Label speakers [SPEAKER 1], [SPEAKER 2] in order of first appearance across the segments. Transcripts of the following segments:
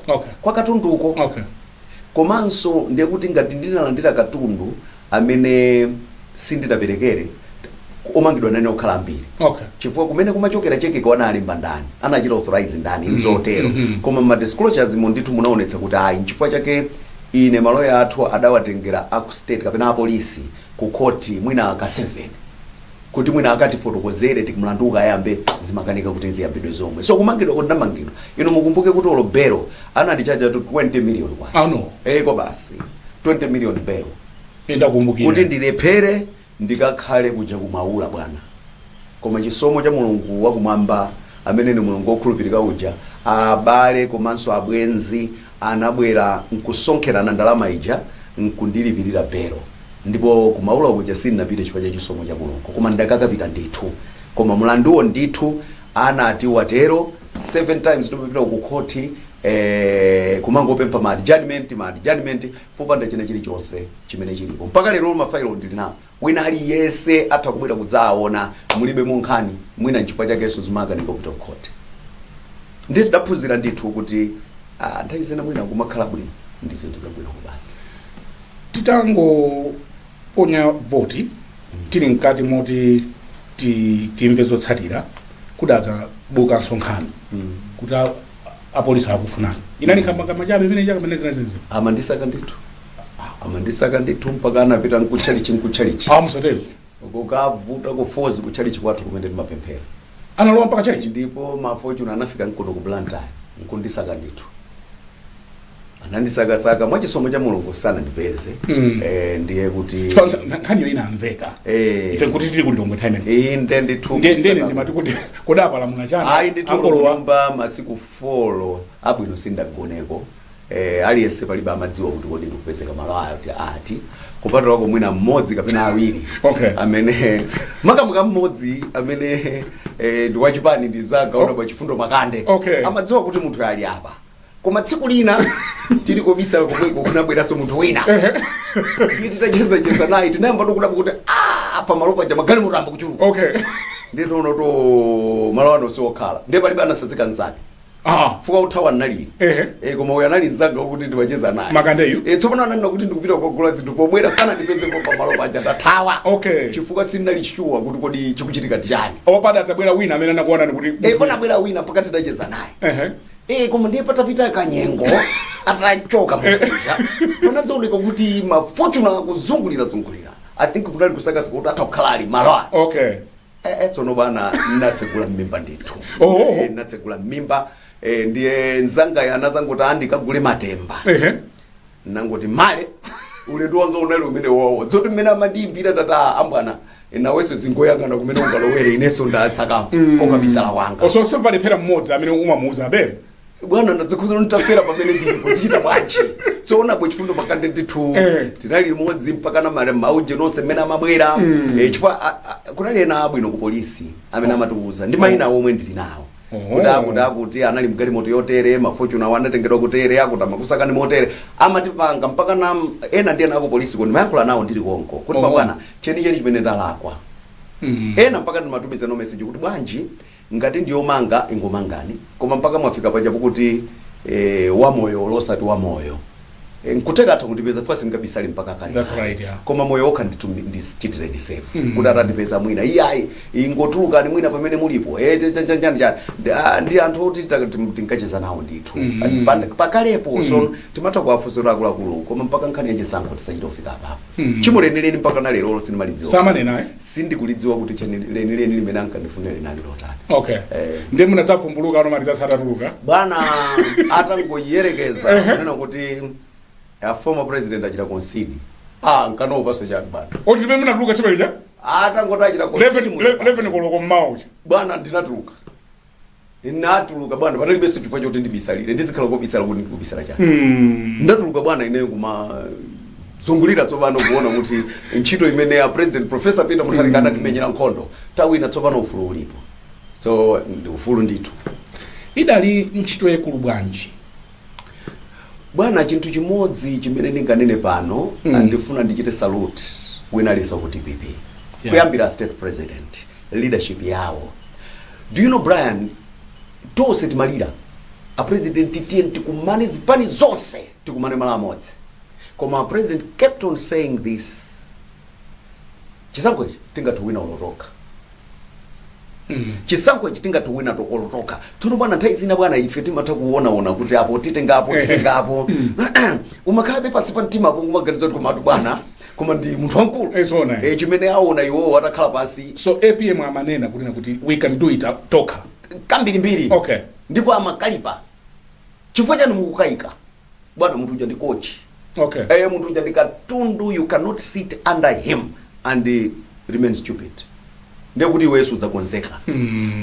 [SPEAKER 1] okay. kwa katunduko okay. komanso ndiye kuti ngati ndinalandira katundu amene sindinaperekere omangidwa nane akhala ambiri okay. chifukwa kumene kumachokera chekecho analemba ndani anachita authorize ndani mm -hmm. zotero mm -hmm. koma ma disclosures mo ndithu munaonetsa kuti ayi nchifukwa chake ine maloya athu adawatengera aku state kapena apolisi ku khoti mwina ka 7 kuti mwina akatifotokozere kuti mlandu ukayambe zimakanika kuti ziyambidwe zomwe so kumangidwa kuti ndamangidwa ino mukumbuke kuti olo belo anandichajatu 20 million kwacha Ano. eh kwa basi 20 million belo ndakumbukira
[SPEAKER 2] kuti
[SPEAKER 1] ndilephere ndikakhale kuja kumaula bwana koma chisomo cha mulungu wakumwamba amene ni mulungu wokhulupirika uja abale komanso abwenzi anabwera nkusonkhera ndalama ija nkundilipirira belo ndipo ku maula kuja sindinapite chifukwa cha chisomo cha Mulungu koma ndakakapita ndithu koma mlanduwo ndithu anati watero 7 times tikupita ku khoti eeh kumangopempha ma adjournment ma adjournment popanda china chilichonse chimene chilipo mpaka lero ma file ndili nawo. Wina aliyense atha kubwera kudzaawona mulibe mo nkhani mwina nchifukwa chakenso zimakanika kupita ku court ndiye tidaphunzira ndithu kuti ah, nthawi zina mwina kumakhala bwino ndi zinthu zabwino koma
[SPEAKER 2] basi titangoponya voti tili mkati moti ti- timve zotsatira kudadzabukanso nkhani kuti a- apolisi akukufunani inali nkhambakamwa chabe imene chaka chimenechi amandisaka ndithu amandisaka ndithu mpaka anapita mkutchalichi mkutchalichi
[SPEAKER 1] musatero kukavuta kufoz kutchalichi kwathu kumene timapemphera analowa
[SPEAKER 2] mpaka tchalichi ndipo ma
[SPEAKER 1] Fortuner anafika mkuno ku blantyre nkundisaka ndithu anandisakasaka mwa chisomo cha mulungu sanandipeze Mm. eh, ndiye kuti Chifukwa nkha- nkha-
[SPEAKER 2] nkhaniyo inamveka Eh. ife kuti tili kulilongwe time imene inde ndithu Nde- ndene
[SPEAKER 1] ndimati kuti
[SPEAKER 2] kodi apalamula chani ayi ndithu
[SPEAKER 1] masiku folo abwino sindagoneko eh, aliyense palibe amadziwa kuti kodi ndikupezeka malo ati ati kupatula kwa mwina mmodzi kapena awiri Okay. amene makamuka mmodzi amene eh, ndi wachipani ndisakana Oh. bwana Chifundo Makande Okay. amadziwa kuti munthu ali apa koma tsiku lina tili kobisala komweko kunabweranso munthu wina ndiye titachezacheza naye tinayamba kudabwa kuti "Ah, pamalo paja magalimoto ayamba kuchuluka okay ndiye taona kuti malo ano siokhala ndiye palibe anatsazika nzake ah basi kuthawa nali Ehe. Eh, koma uyo anali nzanga kuti ndimacheza naye Makandeyu? Eh, tsopano
[SPEAKER 2] ananena kuti
[SPEAKER 1] ndikupita kukagula zinthu pobwera sanandipezepo pamalo paja ndathawa Okay. chifukwa sinali shuwa kuti kodi chikuchitika ndi chani opanda adzabwera wina
[SPEAKER 2] amene anakuonani kuti Eh, panabwera wina mpaka
[SPEAKER 1] tidacheza naye Ehe. Eh, koma ndiye patapita kanyengo atachoka muzija panadzaoneka kuti mafortuner akuzungulira zungulira i think kunali kusakasika kuti atakhala ali malo awa okay Eh, eh, tsono bwana natsegula mmimba ndithu Oh. Eh, natsegula mmimba eh, ndiye nzangayo anadzangoti akandigulire matemba ehe nangoti male ulendo wanga unali umene wowo zoti mmene amandiyimbira tata abwana nawenso uzingoyang'ana kumene ungalowere inenso ndasaka kokabisala wanga osonso palephera mmodzi
[SPEAKER 2] amene umamuuza abere bwana
[SPEAKER 1] ndadzikhuza nditafera pamene ndipo zichita bwanji choona bwe chifundo pakande ndithu Eh. tinali limodzi mpaka na mare mauje nonse mmene amabwera Eh, chifukwa a- a- kunali ena abwino ku polisi amene amatiuza ndi mayina omwe ndili nawo kuti akuti akuti anali mgalimoto yotere mafortuner awo anatengedwa kutere akuti amakusakani motere amatipanga mpaka na ena ndi ena aku polisi ndimayankhula nawo ndili konko kuti Oh. abwana chenicheni chimene ndalakwa Mm. ena mpaka ndimatumiza ma message kuti bwanji ngati ndiyomanga ingomangani koma mpaka mwafika pajapo kuti eh, wamoyo olo osati wamoyo Eh, nkuteka atha kundipeza chifukwa sindingabisale mpaka kale That's right, yeah. koma moyo wokha ndithu ndichitireni save kuti atandipeza mwina iyayi ingotulukani mwina pamene mulipo eh, cha- cha- cha- chani chani Ndi- ah, ndi anthu oti ta- tim- tinkacheza nawo ndithu Pa- pakalepo so timatha kuwafunsa akuluakulu koma mpaka nkhani yachisankho tisachita kufika apapo Hmm. chimo lenileni mpaka na lerolo sindimalidziwa samanena
[SPEAKER 2] eh? sindikulidziwa
[SPEAKER 1] kuti chimo lenileni limene ankandifunira linali lotani okay Eh. ndiye
[SPEAKER 2] munadzavumbuluka ano ma results atatuluka bwana
[SPEAKER 1] atangoyerekeza kunena kuti a former president achita concede ah nkanaopanso chani bwana tsiku limene munatuluka limenelija
[SPEAKER 2] atangoti achita
[SPEAKER 1] concede mu- 11 koloko
[SPEAKER 2] mmawa uja bwana ndinatuluka
[SPEAKER 1] natuluka bwana panalibenso chifukwa choti ndibisalire ndizikhala kobisala kuti ndikubisala chani Mm. ndatuluka bwana ineyo kumazungulira tsopano kuona kuti ntchito imene a president professor peter mutharika anatimenyera nkhondo tawina tsopano ufulu ulipo so ndi ufulu ndithu idali
[SPEAKER 2] ntchito yaikulu bwanji
[SPEAKER 1] bwana chinthu chimodzi chimene ndinganene pano mm. ndifuna ndichite salute wina aliyense ku dpp yeah. kuyambira a state president leadership yawo do you know brian tonse timalira apresidenti tiyeni tikumane zipani zonse tikumane malo amodzi koma a president kept on saying this chisankho ichi tingathe kuwina olo tokha chisankho ichi tingathe kuwina olo tokha tsono bwana nthawi zina bwana ife timatha kuonaona kuti apo titengapo titengapo umakhalabe pansi pa mtima apo kumaganiza kuti komatu bwana koma ndi munthu wamkulu Eh, zoona, eh. Eh, chimene aona iwowo atakhala pansi so apm
[SPEAKER 2] amanena kunena kuti we can do it uh, tokha kambirimbiri
[SPEAKER 1] Okay. ndipo
[SPEAKER 2] amakalipa
[SPEAKER 1] chifukwa chani mukukayika bwana munthu uja ndi coach okay eh
[SPEAKER 2] munthu uja
[SPEAKER 1] ndi katundu you cannot sit under him and eh, remain stupid ndekuti iwe wese udzakonzeka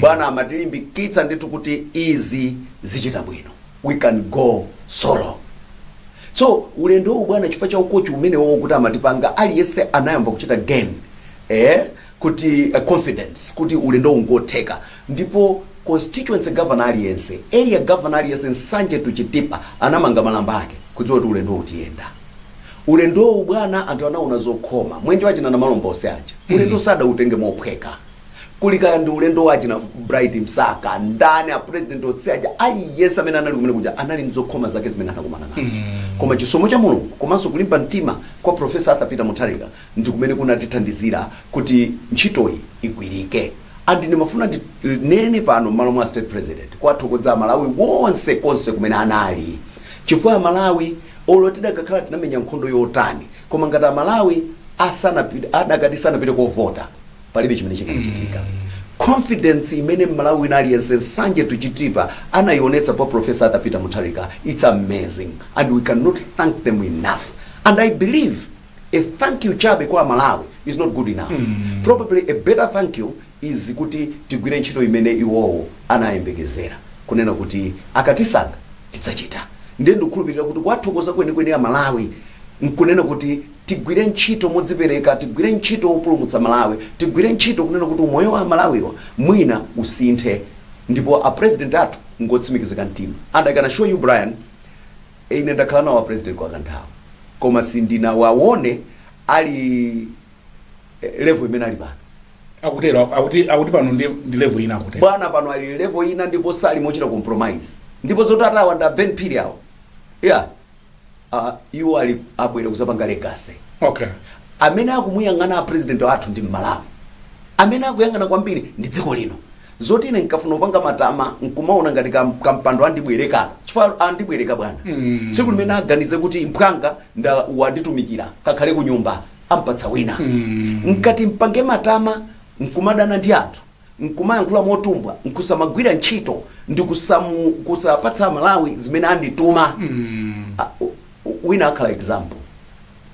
[SPEAKER 1] bwana amatilimbikitsa ndithu kuti izi zichita bwino we can go solo so ulendo uwu bwana chifukwa cha ukochi umene wawo kuti amatipanga aliyense anayamba kuchita gain eh, kuti uh, confidence kuti ulendo ungotheka Ndipo constituency governor aliyense, area governor aliyense Nsanje to Chitipa anamanga malamba ake kudziwa kuti ulendowu tiyenda. Ulendowu bwana anthu anaona zokhoma. Mwenje wa achina Namalomba onse aja. Ulendowu sadautenge mophweka. Kuli kaya ndi ulendo wa achina Bright Msaka, ndani a president onse aja aliyense amene anali kumene kuja anali ndi zokhoma zake zimene anakumana nazo. Koma chisomo cha Mulungu komanso kulimba mtima kwa Professor Arthur Peter Mutharika ndi kumene kunatithandizira kuti ntchitoyi igwirike and ndimafuna ndi nene pano m'malo mwa state president kuwathokodza amalawi wonse konse kumene anali chifukwa amalawi olo tidakakhala tinamenya nkhondo yotani koma ngati amalawi adakati sanapite kovota palibe chimene chikanachitika confidence imene mmalawi wina aliyense nsanje to chitipa anayionetsa kwa profesa arthur peter mutharika it's amazing and we cannot thank them enough and i believe a thank you chabe kwa amalawi is not good enough probably a better thank you is kuti tigwire ntchito imene iwowo anayembekezera kunena kuti akatisankha tidzachita ndiye ndikukhulupirira kuti kuwathokoza kwenikweni amalawi nkunena kuti tigwire ntchito modzipereka tigwire ntchito yopulumutsa malawi tigwire ntchito kunena kuti umoyo wa amalawiwa mwina usinthe ndipo a president athu ngotsimikizika mtima and i can assure you brian Ine ndakhala nawo a president kwa kanthawi koma sindinawawone ali eh, level imene ali pano.
[SPEAKER 2] akuti pano ndi level ina akutero Bwana pano ali level
[SPEAKER 1] ina ndipo sali mochita compromise. Ndipo zoti atawa nda a Ben Phiri awo. Yeah. Uh, iwo ali abwere kuzapanga legacy. okay
[SPEAKER 2] amene
[SPEAKER 1] akumuyang'ana a president athu ndi mmalawi amene akuyang'ana kwambiri ndi dziko lino zoti ine nkafuna kupanga matama nkumaona ngati kam- kampando andibwereka chifukwa andibwereka bwana Mm. tsiku limene aganize kuti mphwanga nda wanditumikira kakhale ku nyumba ampatsa wina Mm. ngati mpange matama nkumadana ndi anthu nkumayankhula motumbwa nkusamagwira ntchito ndi kusamu- kusapatsa malawi zimene andituma Mm. Ah, u- u- wina akhala example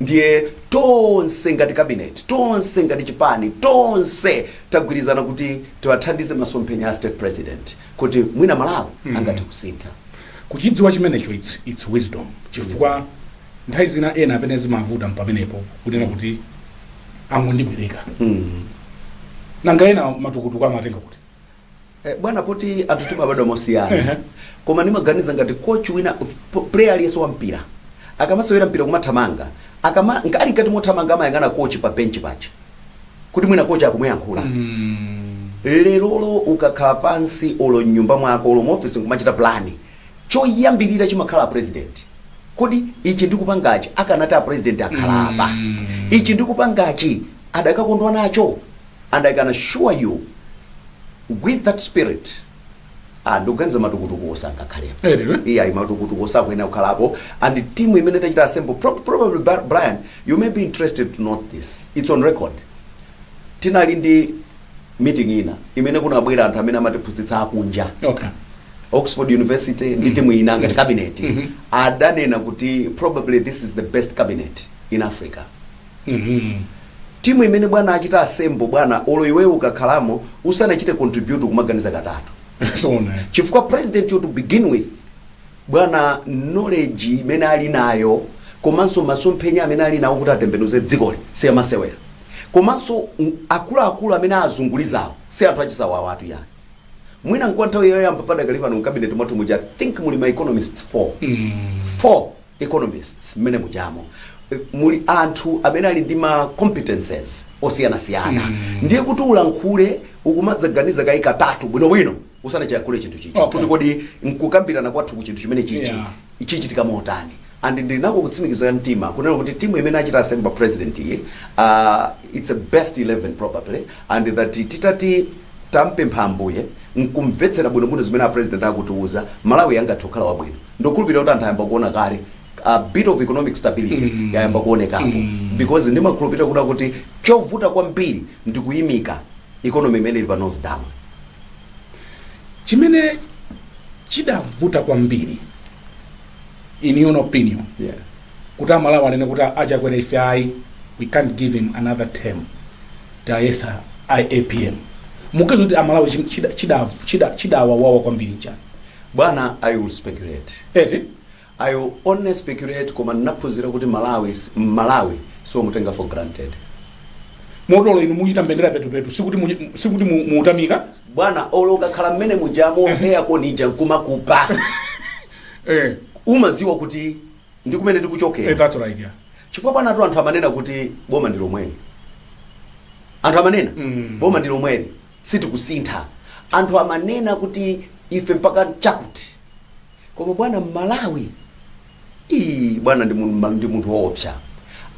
[SPEAKER 1] ndiye tonse ngati kabineti tonse ngati chipani tonse tagwirizana kuti tiwathandize masomphenya a state president kuti mwina malawi angathe kusintha kuchidziwa
[SPEAKER 2] chimenecho it's, it's wisdom chifukwa nthawi zina ena pamene zimavuta mpamenepo kunena kuti angondibwereka nanga ena matukutuku amatenga kuti Eh, bwana
[SPEAKER 1] poti anthu timabadwa mosiyana Ehe. koma ndimaganiza ngati coach wina p- player aliyense wa mpira akamasewera mpira kumathamanga akama nka- ali mkati mothamanga amayang'ana coach pa bench paja kuti mwina coach akumuyankhula Mm. lerolo ukakhala pansi olo mnyumba mwako olo muofisi nkumachita plani choyambirira chimakhala president kodi ichi ndikupangachi akanati a president akhala apa Mm. ichi ndikupangachi adakakondwa nacho and i can assure you with that spirit ah, ndikuganiza matukutukuwo sangakhalepo Eh, ndilo. iya yeah, matukutukuwo sakuyenera kukhalapo and timu imene tachita assemble pro probably Bri- brian you may be interested to note this it's on record tinali ndi meeting ina imene kunabwera anthu amene amatiphunzitsa akunja okay
[SPEAKER 2] oxford
[SPEAKER 1] university ndi timu ina ngati cabinet adanena kuti probably this is the best cabinet in africa Mhuu! Team imene bwana achita assemble bwana olo iweyo ukakhalamo usanachite contribute kumaganiza katatu Zoona. chifukwa president yo to begin with bwana knowledge imene ali nayo komanso masomphenya amene ali nawo kuti atembenuze dzikoli siyamasewera komanso ng- akuluakulu amene azungulizawo si anthu achisawawatu yayi mwina nkwa nthawi yoyamba padakali pano mkabineti mwathu muja I think muli ma economists 4 Mhuu. 4 economists mmene mujamo eh, muli anthu amene ali ndi ma competences osiyanasiyana ndiye kuti ulankhule ukumadzaganiza kayi katatu bwinobwino usanachiyankhule chinthu chichi Okay. kuti kodi
[SPEAKER 2] nkukambirana
[SPEAKER 1] kwathu ku chinthu chimene chichi Yeah.
[SPEAKER 2] chichitika
[SPEAKER 1] motani and ndinako kutsimikiza mtima kunena kuti timu imene achita assemble president iyi uh, its a best 11 probably and that titati tampempha ambuye nkumvetsera bwinobwino zimene a president akutiuza malawi angathe kukhala wabwino Ndukhulupilira kuti anthu ayamba kuona kale a bit of economic stability yayamba kuonekapo because ndimakhulupilira kuda kuti chovuta kwambiri ndi kuyimika economy imene ili pa nose down. chimene
[SPEAKER 2] chidavuta kwambiri in your opinion
[SPEAKER 1] Yeah. kuti
[SPEAKER 2] amalawi anene kuti achakwera ife ayi we can't give him another term tiyesa apm mukuyesa kuti amalawi chim- chida- chida- chida- chidawawawa kwambiri nchani Bwana
[SPEAKER 1] I will speculate
[SPEAKER 2] eti I
[SPEAKER 1] will only speculate koma ndinaphunzira kuti Mmalawi Mmalawi siomutenga for granted.
[SPEAKER 2] Motolo inu muchita mbendera petupetu sikuti mu, sikuti mu, muutamika Bwana olo
[SPEAKER 1] ukakhala mmene mujamo air con ija nkumakupa eh, umaziwa kuti ndi kumene eh, tikuchokera. that's right yeah.
[SPEAKER 2] Chifukwa panatu anthu
[SPEAKER 1] amanena kuti boma ndi lomweli. Anthu amanena Mm. boma ndi lomweli. Sitikusintha. Anthu amanena kuti ife mpaka chakuti. Koma bwana Mmalawi ii bwana ndi mun- ndi munthu woopsa.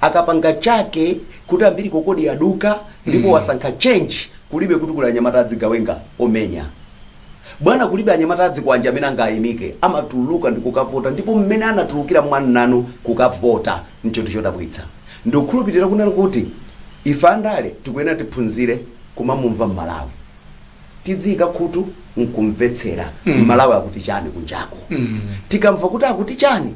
[SPEAKER 1] Akapanga chake kuti umbilical cord yaduka ndipo wasankha change kulibe kuti kuli anyamata adzigawenga omenya. Bwana kulibe anyamata adzikwanje amene angaimike amatuluka ndikukavota ndipo mmene anatulukira mwamnanu kukavota nchinthu chodabwitsa. Ndikukhulupilira kunena kuti ife andale tikuyenera tiphunzire kumamumva Mmalawi. Tidziika khutu nkumvetsera Mmalawi akuti chani kunjako. Tikamva kuti akuti chani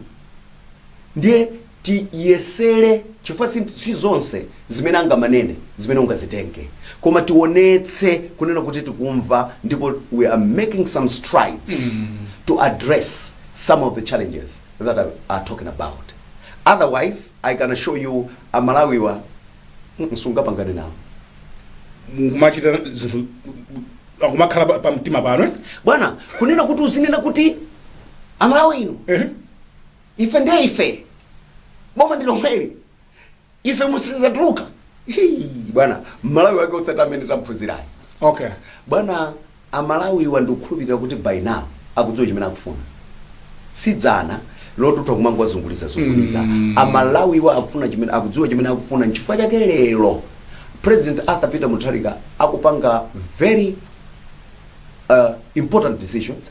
[SPEAKER 1] ndiye tiyesere chifukwa si zonse zimene angamanene zimene ungazitenge koma tionetse kunena kuti tikumva ndipo we are making some strides to address some of the challenges. that you are talking about otherwise i can assure you amalawiwa mm, sungapangane nawo
[SPEAKER 2] mukumachita zinthu akumakhala pa- pa mtima pano eh? bwana
[SPEAKER 1] kunena kuti uzinena kuti amalawi inu Ehe. ife ndiye ife boma ndi lomweli ife musizatuluka Hii, bwana mmalawi wake usati amene tamphunzirayo
[SPEAKER 2] okay
[SPEAKER 1] bwana amalawiwa ndikukhulupirira kuti by now akudziwa chimene akufuna si dzana loti utha kumangowazunguliza zunguliza mm. amalawiwa akufuna chimene akudziwa chimene akufuna nchifukwa chake lero president arthur peter mutharika akupanga very uh, important decisions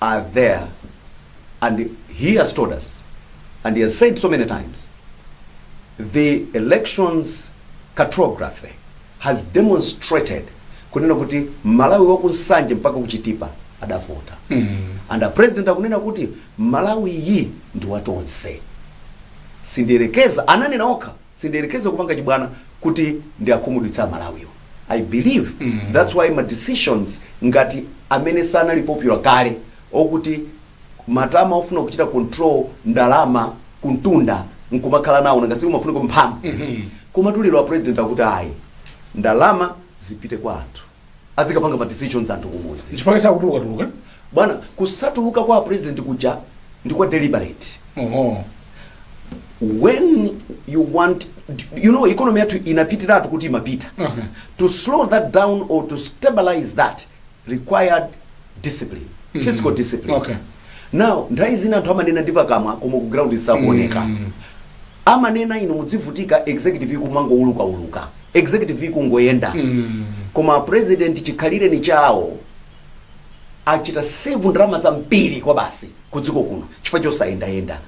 [SPEAKER 1] and there and he has told us and he has said so many times the elections cartography has demonstrated kunena kuti malawi wa ku nsanje mpaka ku chitipa adavota and a president akunena kuti malawiyi ndi watonse sindiyerekeza ananena okha Sindiyerekeza kupanga chibwana kuti ndiwakhumudwitse a Malawiwa. I believe that's why ma decisions ngati amene sanali popular kale okuti matama ofuna kuchita control ndalama kumtunda nkumakhala nawo nanga si kumafunika mphamvu. Komatu lero a president akuti ayi ndalama zipite kwa anthu. adzikapanga ma decisions anthu kumudzi chifukwa chakutuluka
[SPEAKER 2] tuluka
[SPEAKER 1] bwana kusatuluka kwa president kuja ndi kwa deliberate oho when you want you know economy yathu inapitiratu kuti imapita Aha. to slow that down or to stabilize that required discipline fiscal discipline Okay.
[SPEAKER 2] now nthawi
[SPEAKER 1] zina anthu amanena ndi pakamwa koma ku ground zisakuoneka amanena inu mudzivutika executive ikumangoulukauluka Executive ikungoyenda koma a President chikhalireni chawo achita save ndalama zambiri kwabasi ku dziko kuno chifukwa chosayendayenda.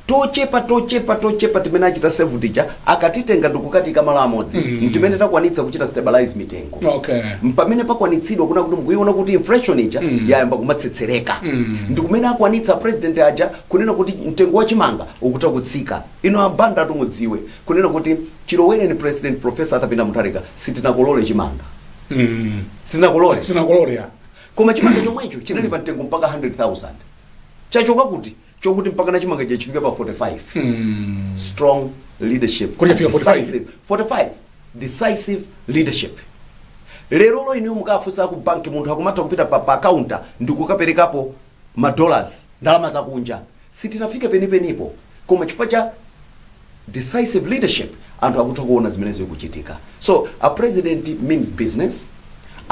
[SPEAKER 1] Tochepa tochepa tochepa timene achita save tija akatitenga ndikukatiika malo amodzi ntimene takwanitsa kuchita stabilize mitengo. Okay.
[SPEAKER 2] Mpamene
[SPEAKER 1] pakwanitsidwa kunena kuti mukuiona kuti inflation ija yayamba kumatsetsereka. Ndikumene akwanitsa a President aja kunena kuti mtengo wa chimanga ukhoza kutsika. Inu a Bandatu mudziwe kunena kuti chilowereni president professor Arthur Peter Mutharika sitinakolole chimanga. Sitinakolole. Sitinakolole ya Koma chimanga chomwecho chinali pa mtengo mpaka 100,000. Chachoka kuti chokuti mpakana chimanga chafika pa 45. Strong leadership. Kuti chafika 45?
[SPEAKER 2] Decisive.
[SPEAKER 1] 45. Decisive leadership. Lerolo inu mukafunsa ku banki munthu akumatha kupita pa, pa counter ndi kukaperekapo ma dollars, ndalama zakunja, sitinafika penipenipo koma chifukwa cha decisive leadership anthu akutha kuona zimene zikuchitika. So a president means business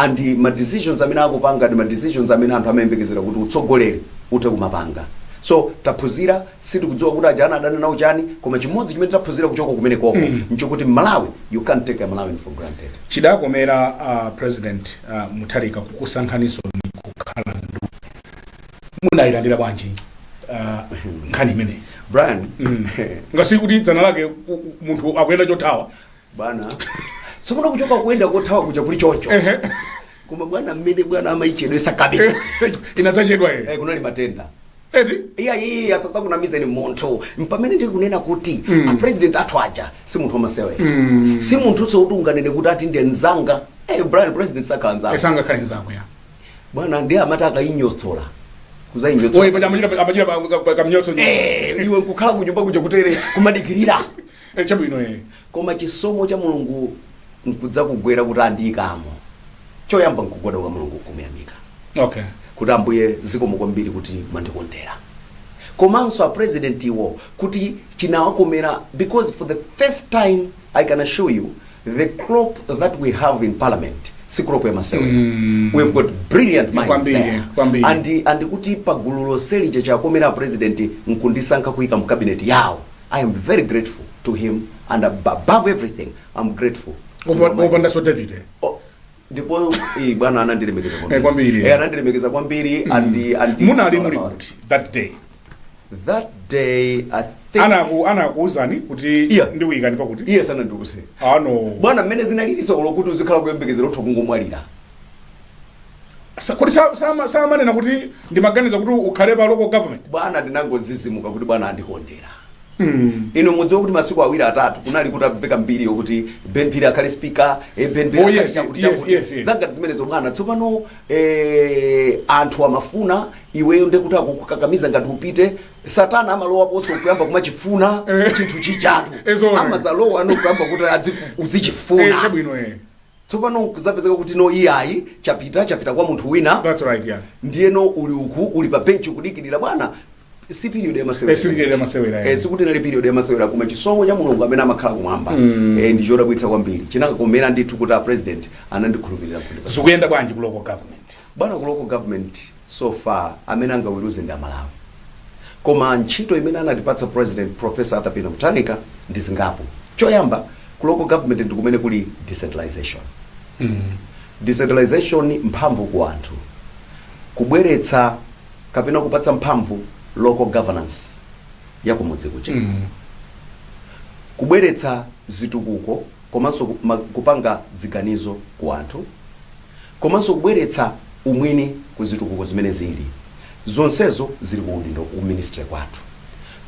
[SPEAKER 1] ndi ma decisions amene akupanga ndi ma decisions amene anthu amayembekezera kuti utsogoleri uthe kumapanga. So taphunzira sitikudziwa kuti ajawa anadana nawo chani koma chimodzi chimene taphunzira kuchoka kumenekoko nchokuti mmalawi you can't take a malawian for granted chidakomera uh,
[SPEAKER 2] president uh, mutharika kukusankhaninso nkukhala nduna munayilandira bwanji uh, nkhani imeneyi brian
[SPEAKER 1] ngati
[SPEAKER 2] kuti dzana lake u- u- munthu akuyenda chothawa
[SPEAKER 1] bwana sikuno kuchoka kuyenda kothawa kuja kuli choncho koma bwana mmene bwana amaichedwetsa cabinet inadzachedwa eh,
[SPEAKER 2] ere kunali matenda
[SPEAKER 1] eti iya
[SPEAKER 2] iyi asatsa kunamiza
[SPEAKER 1] ni munthu mpamene ndiri kunena kuti mm. apresident athu aja si munthu wamasewera mm. si munthu wokuti unganene kuti ati ndi nzanga hey, brian president sakhala nzanga sangakhale nzako
[SPEAKER 2] ya bwana ndiye amati
[SPEAKER 1] akayinyotsola kuzayinyotsola
[SPEAKER 2] iye paja amachita amachita kamnyotso Eh, iwe
[SPEAKER 1] nkukhala kunyumba kuja kutere kumadikirira Eh, chabwino
[SPEAKER 2] eh.
[SPEAKER 1] koma chisomo cha mulungu nkudzakugwera kuti andiyikamo choyamba nkugwada kwa mulungu nkumuyamika okay kuti ambuye zikomo kwambiri kuti mwandikondera komanso a president iwo kuti chinawakomera because for the first time i can assure you the crop that we have in parliament si crop ya masewera Mm. we've got brilliant minds Kwambiri, there. kwambiri. and and kuti pagulu lonse lija chakomera a president nkundisankha kuyika mu cabinet yawo I am very grateful to him and above everything I'm grateful to Opa- Almighty
[SPEAKER 2] opandanso David eh? Oh, ndipo
[SPEAKER 1] eh, bwana anandilemekeza Eh, kwambiri. Eh, anandilemekeza
[SPEAKER 2] kwambiri
[SPEAKER 1] and and it's munali all muli about- kuti
[SPEAKER 2] that
[SPEAKER 1] day that day i think Anaku-
[SPEAKER 2] anakuuzani kuti Yeah. ndikuyikani pakuti iyayi sanandiuze
[SPEAKER 1] bwana mmene zinalilinso zokuti uzikhala kuyembekezera utha kungomwalira
[SPEAKER 2] Sa- kodi sa- sama- samanena kuti ndimaganiza kuti ukhale pa local government bwana
[SPEAKER 1] ndinangodzidzimuka kuti bwana andikondera inu mudziwa kuti masiku awiri atatu kunali kutamveka mbiri yokuti ben phiri akhale speaker eh, ben Phiri Oh, akhale yes, chakuti yes, chakuti. yes, yes.
[SPEAKER 2] zangati zimenezo
[SPEAKER 1] bwana tsopano eh, anthu amafuna iweyo ndekuti akukukakamiza ngati upite satana amalowaponso kuyamba kumachifuna Eh. chinthu chijatu Eh, zoona. amadzalowa ndikuyamba kuti adziku- Eh, uzichifuna chabwino eh. Tsopano kudzapezeka kuti no iyayi chapita chapita kwa munthu wina. That's right
[SPEAKER 2] yeah. Ndiyeno uli uku
[SPEAKER 1] uli pa bench ukudikirira bwana si period ya masewera. Eh, si period ya masewera. Eh, sikuti nali period ya masewera koma chisomo cha Mulungu amene amakhala kumwamba. Mm. Eh, ndi chodabwitsa kwambiri. Chinangokomera ndithu kuti a president anandikhulupirira kuti. Zikuyenda bwanji ku local
[SPEAKER 2] government? Bwana ku local government
[SPEAKER 1] so far amene angaweruze ndi amalawi koma ntchito imene anatipatsa president professor Arthur Peter Mutharika ndi zingapo choyamba ku local government ndi kumene kuli decentralization decentralization mphamvu ku anthu kubweretsa kapena kupatsa mphamvu local governance ya kumudzi kuja kubweretsa zitukuko komanso ku ma kupanga dziganizo ku anthu komanso kubweretsa umwini ku zitukuko zimene zili zonsezo zili ku udindo ku ministry kwathu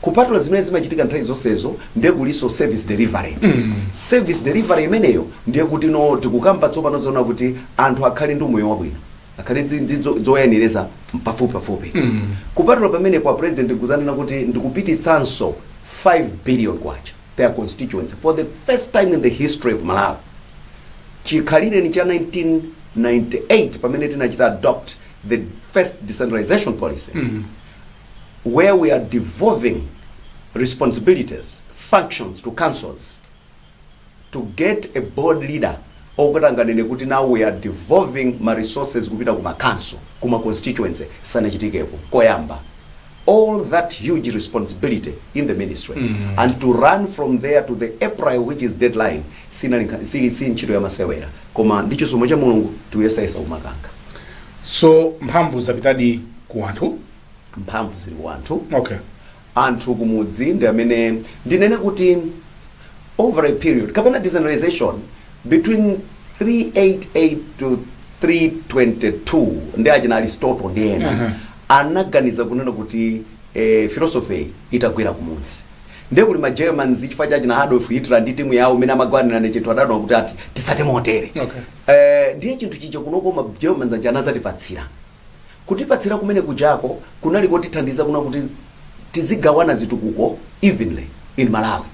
[SPEAKER 1] kupatula zimene zimachitika nthawi zonsezo ndiye kulinso service delivery service delivery imeneyo ndiye kuti no tikukamba tsopano zoona kuti anthu akhale ndi umoyo wabwino akhale ndi- ndi zo- zoyenereza pafupi pafupi kupatula pamene kwa president kudzanena kuti ndikupititsanso 5 billion kwacha per constituency for the first time in the history of Malawi chikhalireni cha 1998 pamene tinachita adopt the first decentralization policy where we are devolving responsibilities functions to councils to get a bold leader oti atanganene kuti now we are devolving ma resources kupita ku makhansolo ku ma constituency sanachitikepo koyamba all that huge responsibility in the ministry mm. and to run from there to the april which is deadline sinali nkha- si, si ntchito yamasewera koma ndi chisomo cha mulungu tikuyesayesa kumakankha
[SPEAKER 2] so mphamvu zapitadi ku anthu mphamvu
[SPEAKER 1] zili ku anthu
[SPEAKER 2] okay anthu
[SPEAKER 1] kumudzi ndi amene ndinene kuti over a period kapena decentralization Between 388 to 322 ndi achina Aristotle ndi ena Aha. anaganiza kunena kuti eh, philosophy itagwera kumudzi ndiye kuli ma Germans chifukwa cha achina Adolf Hitler ndi timu yawo imene amangwanirana chinthu adaona kuti ati tisatsate motere Okay. eh, ndiye chinthu chija
[SPEAKER 2] kunoko
[SPEAKER 1] ma Germans aja anazatipatsira Kutipatsira kumene kujako kunali kotithandiza kunena kuti tizigawana zitukuko evenly in Malawi.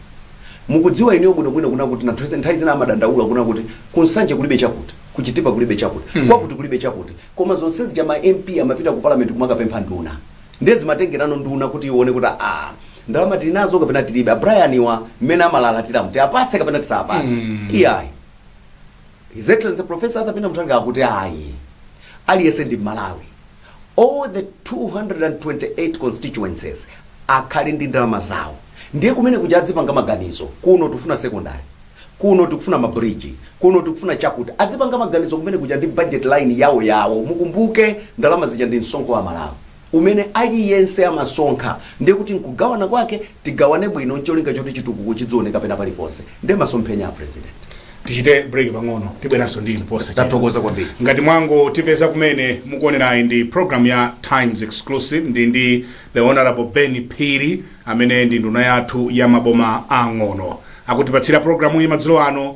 [SPEAKER 1] Mukudziwa inuyo bwino bwino kunena kuti anthu nthawi zina amadandaula kunena kuti ku Nsanje kulibe chakuti, ku Chitipa kulibe chakuti, kwakuti kulibe chakuti. Koma zonse zija ma MP amapita ku Parliament kumakapempha nduna. Ndiye zimatengerano nduna kuti ione kuti aah ndalama tili nazo kapena tilibe. A Brian wa mmene amalalatiramu tiapatse kapena tisawapatse? Iyayi. His Excellency Professor Arthur Peter Mutharika akuti ayi aliyense ndi Mmalawi all the 228 constituencies akhale ndi ndalama zawo ndiye kumene kuja adzipanga maganizo kuno tikufuna secondary kuno tikufuna mabridge kuno tikufuna chakuti adzipanga maganizo kumene kuja ndi budget line yawo yawo mukumbuke ndalama zija ndi msonkho wa Amalawi umene aliyense amasonkha ndiye kuti nkugawana kwake tigawane bwino ncholinga choti chitukuko chidzioneka pena paliponse nde masomphenya a president tichite break
[SPEAKER 2] pang'ono tibweranso ndi inu posachedwa tathokoza kwambiri ngati
[SPEAKER 1] mwangotipeza
[SPEAKER 2] kumene mukuonerayi ndi program ya times exclusive ndi ndi the honorable ben phiri amene ndi nduna yathu ya maboma ang'ono akutipatsira programu iyi madzulo ano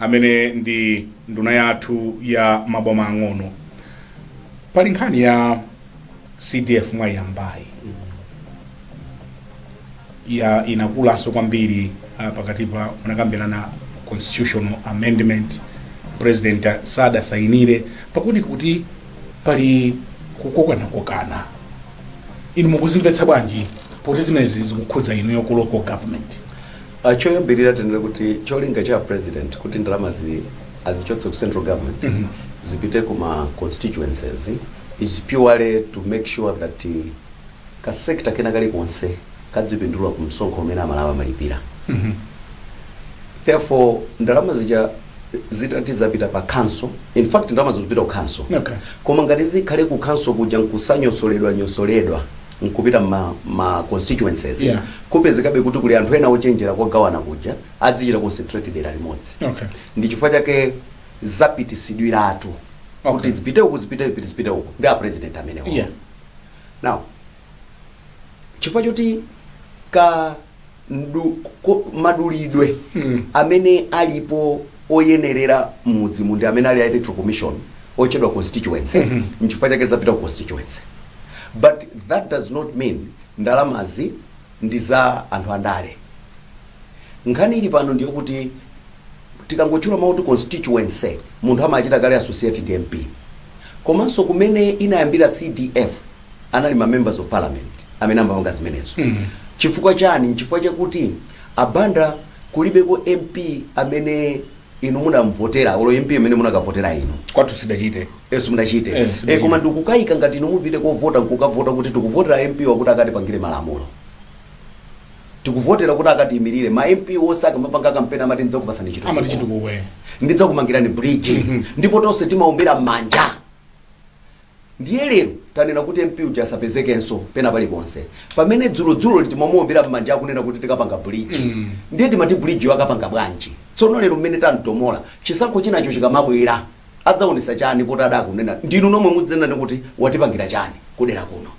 [SPEAKER 2] amene ndi nduna yathu ya maboma ang'ono pali nkhani ya cdf mwayiyambayi ya inakulanso kwambiri uh, pakati pa munakambirana constitutional amendment president sadasainire pakuoneka kuti pali kukokanakokana inu mukuzimvetsa bwanji poti zimenezi zikukhudza inuyo ku local government Uh,
[SPEAKER 1] choyambirira tinene kuti cholinga cha president kuti ndalamazi azichotse ku central government mm -hmm. zipite ku ma constituencies is purely to make sure that uh, ka sector kena kalikonse kadzipindula ku msonkho umene Amalawi amalipira mm -hmm. therefore ndalama zija zitati zapita pa council in fact ndalama zikupita ku council okay. koma ngati
[SPEAKER 2] zikhale
[SPEAKER 1] ku council kuja nkusanyosoledwa nyosoledwa nkupita mma ma constituencies Yeah. kupezekabe
[SPEAKER 2] kuti kuli
[SPEAKER 1] anthu ena ochenjera kogawana kuja adzichita concentrate dera limodzi Okay. ndi chifukwa
[SPEAKER 2] chake
[SPEAKER 1] zapitisidwiratu Okay. kuti
[SPEAKER 2] zipite uku zipite
[SPEAKER 1] uku zipite uku ndi a president amenewo Yeah.
[SPEAKER 2] now
[SPEAKER 1] chifukwa choti ka mdu- ko- madulidwe Mm. amene alipo oyenerera m'dziko muno amene ali a electoral commission otchedwa constituency Mhm. nchifukwa chake zapita ku constituency but that does not mean ndalamazi ndi za anthu andale nkhani ili pano ndiyo kuti tikangotchula mawu kuti constituency munthu amachita kale associate ndi mp komanso kumene inayambira cdf anali ma members of parliament amene amapanga zimenezo mm. chifukwa chani nchifukwa chakuti abanda kulibeko mp amene inu munamvotera olo mp amene munakavotera inu kwathu sitidachite
[SPEAKER 2] enu mudachite Eh, e,
[SPEAKER 1] sidachite. koma ndikukayika ngati inu mupite kovota nkukavota kuti tikuvotera mp wakuti akatipangire malamulo tikuvotera kuti akatiyimirire ma mp onse akamapanga kampeni amati ndidzakupasani amati chitukuko chitukuko eh.
[SPEAKER 2] ndidzakumangirani
[SPEAKER 1] bridge ndipo tonse timaombera m'manja Ndiye lero tanena kuti MP uja asapezekenso pena paliponse pamene dzulodzuloli timamuombera mmanja akunena kuti tikapanga bridge. Ndiye timati bridge yo akapanga bwanji? Tsono lero mmene tamtomola, chisankho chinacho chikamabwera adzaonetsa chani poti adakunena ndinu nomwe mudzanena kuti watipangira chani kudera kuno?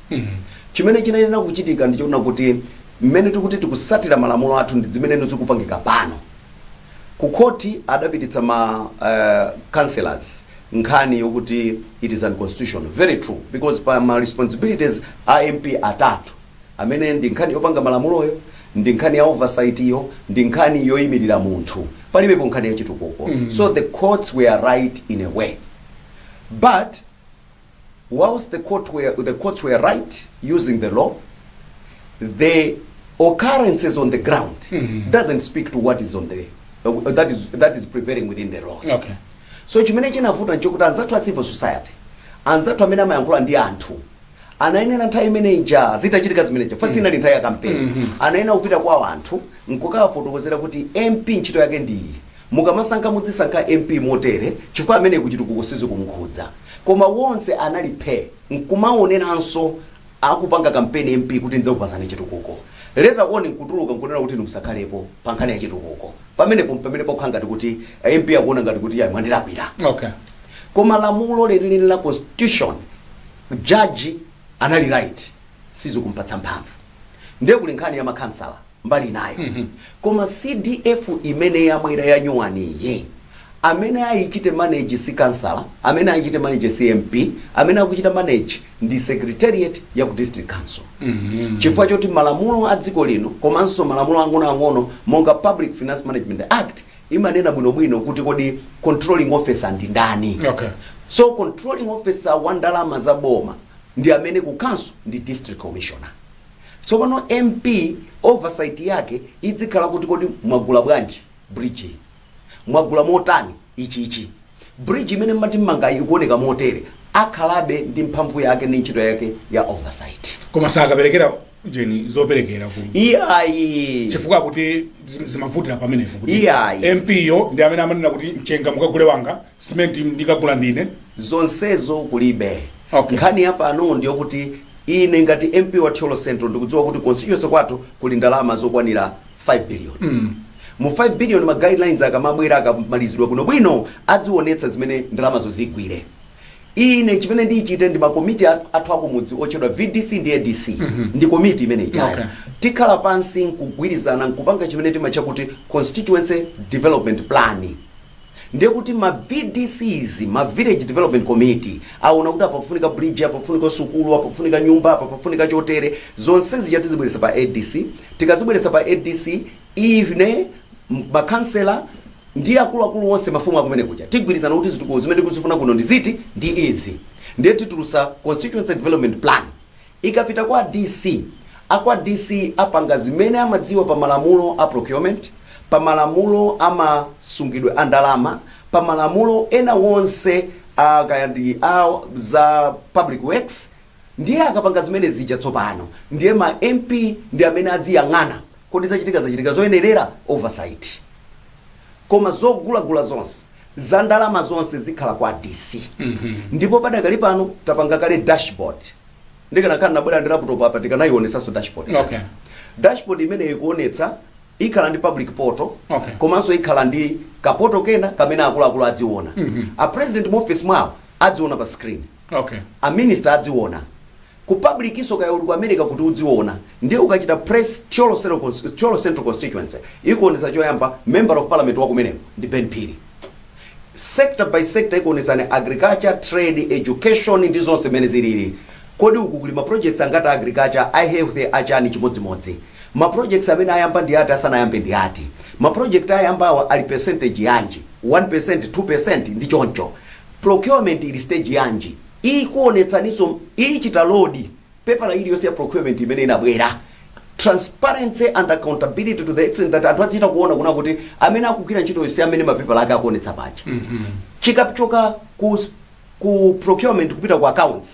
[SPEAKER 1] Chimene chinayenera kuchitika ndi chonena kuti mmene tikuti tikutsatira malamulo athu ndi zimene zikupangika pano. Ku khoti adapititsa ma eh, councillors nkhani yokuti it is unconstitutional very true because pa ma responsibilities a mp atatu amene ndi nkhani yopanga malamuloyo ndi nkhani ya oversight yo ndi nkhani yoyimirira munthu palibepo nkhani ya chitukuko mm. so the courts were right in a way but whilst the, court were, the courts were right using the law the occurrences on the ground mm -hmm. doesn't speak to what is on the uh, that is that is prevailing within the laws okay So chimene chinavuta nchokuti anzathu a civil society, anzathu amene amayankhula ndi anthu anayenera nthawi imene ija zitachitika zimenezo chifukwa siinali nthawi ya kampeni, anayenera kupita kwa anthu nkukawafotokozera kuti MP ntchito yake ndi iyi, mukamasankha mudzisankha MP motere chifukwa ameneyu chitukuko sizikumkhudza. Koma onse anali phe! nkumaoneranso. akupanga kampeni MP kuti ndzakupasani chitukuko later on nkutuluka nkunena kuti inu musakhalepo pankhani ya chitukuko pamenepo mpamene pakukhala ngati kuti a MP akuona ngati kuti ya mwandilakwira
[SPEAKER 2] okay koma
[SPEAKER 1] lamulo lenileni la constitution jaji anali right sizikumpatsa mphamvu ndiye kuli nkhani ya makhansala mbali inayo koma CDF imene yabwera yanyuwaniyi amene ayichite manage si councillor amene ayichite manage si MP amene akuchita manage ndi secretariat ya ku district council chifukwa choti malamulo a dziko lino komanso malamulo ang'onoang'ono monga public finance management act imanena bwinobwino kuti kodi controlling officer ndi ndani Okay. so
[SPEAKER 2] controlling
[SPEAKER 1] officer wa ndalama za boma ndi amene ku khonsolo ndi district commissioner Tsopano MP oversight yake idzikhala kuti kodi mwagula bwanji bridge? Mwagula motani ichichi? Bridge imene mmati mmangayi ikuoneka motere. Akhalabe ndi mphamvu yake ndi ntchito yake ya oversight. Koma
[SPEAKER 2] sakaperekera jeni zoperekera ku
[SPEAKER 1] Iyayi. chifukwa choti
[SPEAKER 2] zim- zimavutira pamenepo kuti Iyayi. MP yo
[SPEAKER 1] ndi amene
[SPEAKER 2] amanena kuti mchenga mukagule wanga Cement ndikagula ndine. Zonsezo
[SPEAKER 1] kulibe. Okay. Nkhani ya
[SPEAKER 2] pano
[SPEAKER 1] ndiyokuti ine ngati MP wa Thyolo Central ndikudziwa kuti constituency kwathu kuli ndalama zokwanira 5 billion. Mu 5 billion ma guidelines akamabwera akamalizidwa bwino bwino adziwonetsa zimene ndalamazo zigwire. Ine chimene ndichite ndi ma komiti a- athu akumudzi otchedwa VDC ndi ADC ndi komiti imene Okay. ijayo. Tikhala
[SPEAKER 2] pansi
[SPEAKER 1] nkugwirizana nkupanga chimene timatcha kuti constituency development plan. Ndiye kuti ma VDCs, ma Village Development Committee, aona kuti apa pafunika bridge, apa pafunika sukulu, apa pafunika nyumba, apa pafunika chotere, zonse zija tizibweretsa pa ADC, tikazibweretsa pa ADC, ine, ma Councillor, ndi akuluakulu onse, mafumu akumene kuja, tigwirizana kuti zitukuko zimene tikuzifuna kuno ndi ziti, ndi izi. Ndiye titulutsa Constituency Development Plan, Ikapita kwa DC, a kwa DC apanga zimene amadziwa pa malamulo a procurement, pa malamulo a ma sungidwe a ndalama, pa malamulo ena onse a kaya ndi a za public works, ndiye akapanga zimene zija tsopano, ndiye ma MP ndi amene adziyang'ana, kodi zachitika zachitika zoyenerera? Oversight. Koma zogulagula zonse, za ndalama zonse zikhala kwa DC. Ndipo padakali pano tapanga kale dashboard. ndikanakhala nabwera ndi laptop apa tikanayionetsanso dashboard
[SPEAKER 2] Okay. dashboard
[SPEAKER 1] imeneyo ikuonetsa ikhala ndi public portal Okay. komanso ikhala
[SPEAKER 2] ndi
[SPEAKER 1] kapoto kena kamene akuluakulu adziona a president mu office mwawo adziona pa screen Okay. a minister adziona ku publicnso kaya uli ku america kuti udziona ndiye ukachita press Thyolo Central Cons- Thyolo central constituency ikuonetsa choyamba member of parliament wakumeneko ndi ben phiri sector by sector ikuonetsani agriculture trade education ndi zonse mmene zilili kodi uku kuli ma projects angati a agriculture a health achani chimodzimodzi ma projects amene ayamba ndi ati asanayambe ndi ati ma project ayambawa ali percentage yanji 1% 2% ndi choncho procurement ili stage yanji ikuonetsaninso ichita load paper iliyonse ya procurement imene inabwera transparency and accountability to the extent that anthu adzichita kuona kuna kuti amene akugwira ntchitoyo ndi amene mapepala ake akuonetsa paja chikachoka ku, ku procurement kupita ku accounts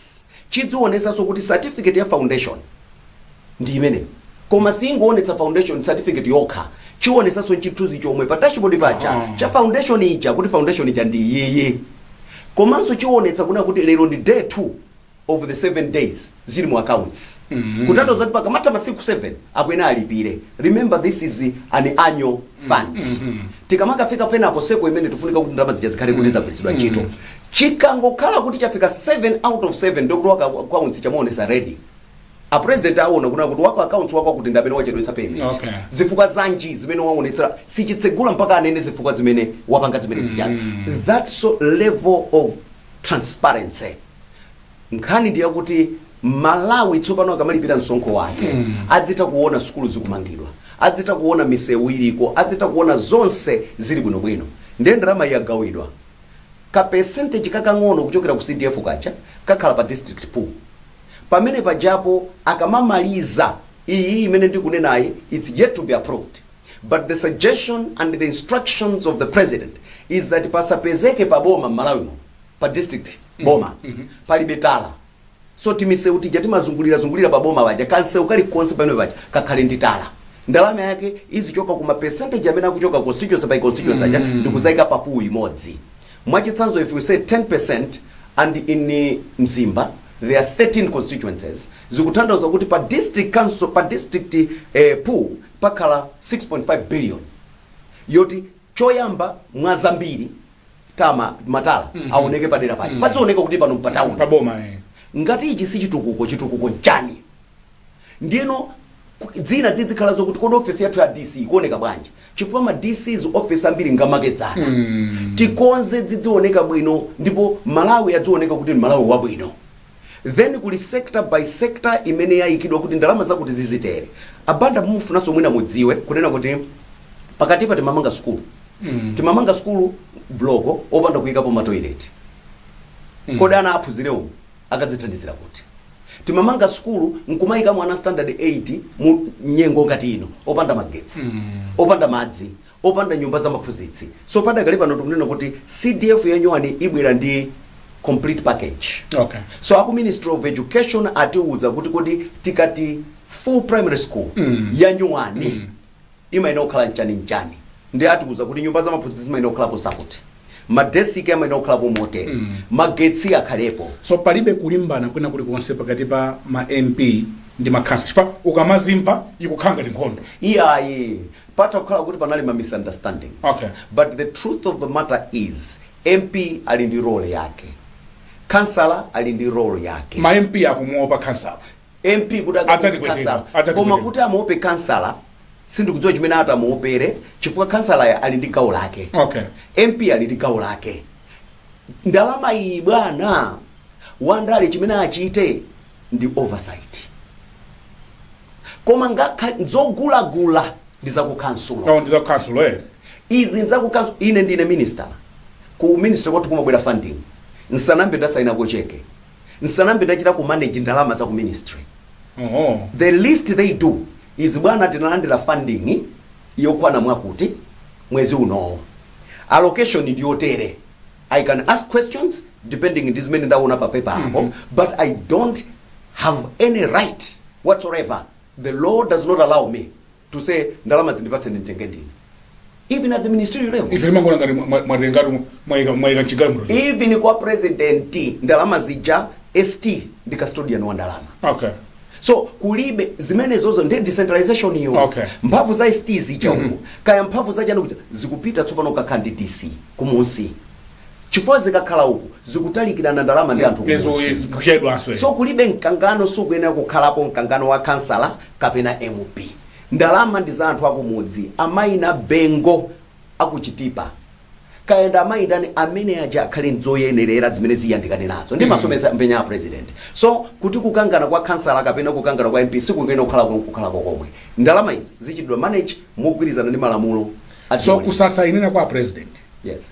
[SPEAKER 1] chidzionetsanso kuti certificate ya foundation ndi imeneyo koma singoonetsa foundation certificate yokha chionetsanso chithunzi chomwe pa dashboard paja Aha. cha foundation ija kuti foundation ija ndi iyiyi komanso chionetsa kuna kuti lero ndi day 2 of the 7 days zili mu accounts kutanthauza kuti pakamatha masiku 7 akuyenera alipire remember this is an annual fund tikamakafika penako seko imene tifunika kuti ndalama zija zikhale kuti zagwiritsidwa ntchito chikangokhala kuti chafika 7 out of 7 ndokuti waku accounts chimaonetsa red a president aona kunena kuti wako accounts wako kuti ndamene wachedwetsa payment Okay.
[SPEAKER 2] zifukwa
[SPEAKER 1] zanji zimene waonetsera sichitsegula mpaka anene zifukwa zimene wapanga zimenezi chani that so level of transparency nkhani ndi yakuti mmalawi tsopano akamalipira msonkho wake adzitha kuona sukulu zikumangidwa adzitha kuona misewu iliko adzitha kuona zonse zili bwinobwino ndiye ndalama yagawidwa ka percentage kakang'ono kuchokera ku cdf kaja kakhala pa district pool pamene pajapo akamamaliza iyi imene ndikunenayi its yet to be approved but the suggestion and the instructions of the president is that pasapezeke paboma m'malawimo pa district boma palibe tala so timiseu tija timazungulira zungulira pa boma paja kamseu kalikonse pamene paja kakhale ndi tala ndalama yake izichoka kuma percentage amene akuchoka constituency by constituency aja ndikudzaika pa pool imodzi mwachitsanzo if we say 10% and in mzimba there are 13 constituencies zikutanthauza kuti pa district council pa district eh, pool pakhala 6.5 billion yoti Choyamba mwa zambiri tama matala aoneke padera paja padzioneka kuti pano mpatauni pa boma eh.
[SPEAKER 2] ngati ichi si
[SPEAKER 1] chitukuko chitukuko nchani ndiyeno ku- zina zidzikhala zokuti kodi ofesi yathu ya dc ikuoneka bwanji chifukwa ma dc's ofesi ambiri ngamakedzana tikonze zidzioneka bwino ndipo malawi adzioneka kuti ndi malawi wabwino then kuli sector by sector imene yaikidwa kuti ndalama zakuti zizitere. A Banda mumufunanso mwina mudziwe kunena kuti pakatipa timamanga sukulu. Timamanga sukulu bloko opanda kuikapo ma toilet. Kodi ana aphunzirewo akadzithandizira kuti? Timamanga sukulu nkumaika mwana standard 8 mu nyengo ngati ino opanda magetsi, opanda madzi, opanda nyumba za maphunzitsi so padakali pano tikunena kuti cdf ya nyuwani ibwera ndi complete package Okay. so aku
[SPEAKER 2] ministry of
[SPEAKER 1] education atiwuza kuti kodi tikati full primary school mm. ya nyuwani mm. imayenera kukhala nchani nchani ndi atiwuza kuti nyumba za maphunzitsi zimayenera kukhala zakuti Madesiki amayenera kukhalapo motere. Magetsi akhalepo. so palibe kulimbana
[SPEAKER 2] kwina kulikonse pakati pa ma mp ndi makhansala chifukwa ukamazimva ikukhala ngati nkhondo iyayi
[SPEAKER 1] patha kukhala kuti panali ma misunderstandings Okay. but the
[SPEAKER 2] truth of
[SPEAKER 1] the matter is mp ali ndi role yake khansala ali ndi role yake ma mp akumuopa
[SPEAKER 2] khansala mp kuti
[SPEAKER 1] Adzatipweteka, akamuope kansala adzatipweteka. koma kuti amuope kansala sindikudziwa chimene atamuopere chifukwa kansala ali ndi gawo lake Okay. mp
[SPEAKER 2] ali ndi gawo
[SPEAKER 1] lake ndalama iyi bwana wandale chimene achite ndi oversight koma nkhani zogulagula ndi zakukhansulo no ndiza council
[SPEAKER 2] eh izi
[SPEAKER 1] nzakukhansulo ine ndine minister ku minister kwathu kumabwera funding nsanambe ndasainako cheke nsanambe ndachitako manage ndalama za ku ministry Oho. the least they do is bwana tinalandira funding yokwana mwakuti mwezi unowu allocation ndi yotere i can ask questions depending ndi zimene ndaona pa paper apo but i don't have any right whatsoever the law does not allow me to say ndalamazi ndipatseni nditenge ndine even at the ministerial level ife timangoona ngati mwa-
[SPEAKER 2] mwa- mwatengatu mwaika mwaika chigamulo even kwa
[SPEAKER 1] president ndalama zija st ndi custodian wa ndalama okay so kulibe zimenezozo ndi decentralization iyo Okay. mphamvu za st zija uku kaya mphamvu za chani kuja zikupita tsopano kukakhala ndi dc kumunsi chifukwa zikakhala uku zikutalikirana ndalama ndi anthu Yes, kumudzi. yes, kuchedwanso so kulibe mkangano sukuyenera kukhalapo mkangano wa kansala kapena mp ndalama ndi za anthu akumudzi amayi nabengo aku chitipa kaya ndi amayi ndani amene aja akhale ndi zoyenerera zimene ziyandikane nazo ndi maso- masomphenya a president so kuti kukangana kwa kansala kapena kukangana kwa mp sikukuyenera kukhala kuno kukhalako komwe ndalama izi zizichitidwa manage mogwirizana ndi malamulo a so dziko lino.
[SPEAKER 2] kusasaina kwa president yes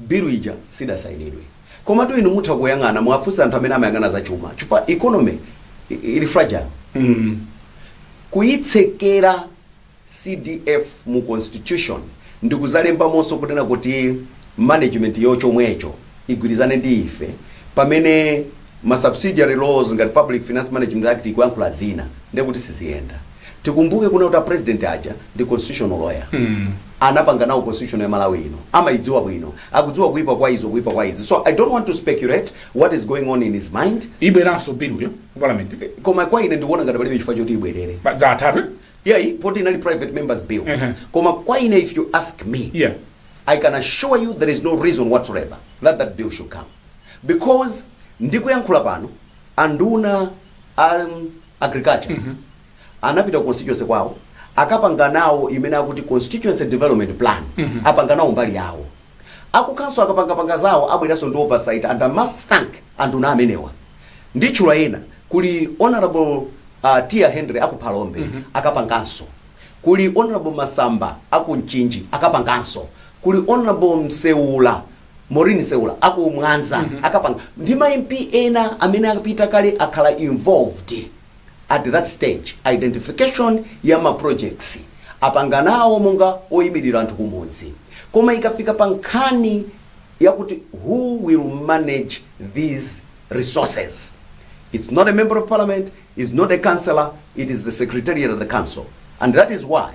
[SPEAKER 1] Bill ija sidasainidwe. Komatu inu mutha kuyang'ana muwafunse anthu amene amayang'ana za chuma chifukwa economy ili fragile. Kuyitsekera CDF mu constitution ndikudzalembamonso kunena kuti management yo chomwecho igwirizane ndi ife pamene ma subsidiary laws ngati Public Finance Management Act ikuyankhula zina ndekuti siziyenda. Tikumbuke kunena kuti a president aja ndi constitutional lawyer. Anapanga nawo constitution ya Malawi ino. Amayidziwa bwino. Akudziwa kuyipa kwa izo, kuyipa kwa izi. So I don't want to speculate what is going on in his mind. Ibweranso bill yo
[SPEAKER 2] ku parliament. Koma kwa ine ndikuona
[SPEAKER 1] ngati palibe chifukwa choti ibwerere. Ba- Zathatu.
[SPEAKER 2] eh? Yeah, i- poti
[SPEAKER 1] inali private members bill. Uh-huh. Koma kwa ine if you ask me, Yeah. I can
[SPEAKER 2] assure
[SPEAKER 1] you there is no reason whatsoever that that bill should come. Because ndikuyankhula pano anduna a um, agriculture anapita ku constituency kwawo akapanga nawo imene akuti constituency development plan apanga nawo mbali yawo akukhonsolo akapangapanga zawo abweranso ndi oversight and I must thank anthu ena amenewa nditchule ena kuli honorable uh, tia henry aku phalombe akapanganso kuli honorable masamba aku mchinji akapanganso kuli honorable mseula Maureen Nseula aku Mwanza akapanga ndi ma MP ena amene apita kale akhala involved at that stage identification ya ma projects apanga nawo monga oyimirira anthu kumudzi koma ikafika pa nkhani yakuti who will manage these resources it's not a member of parliament it's not a councillor it is the secretariat of the council and that is why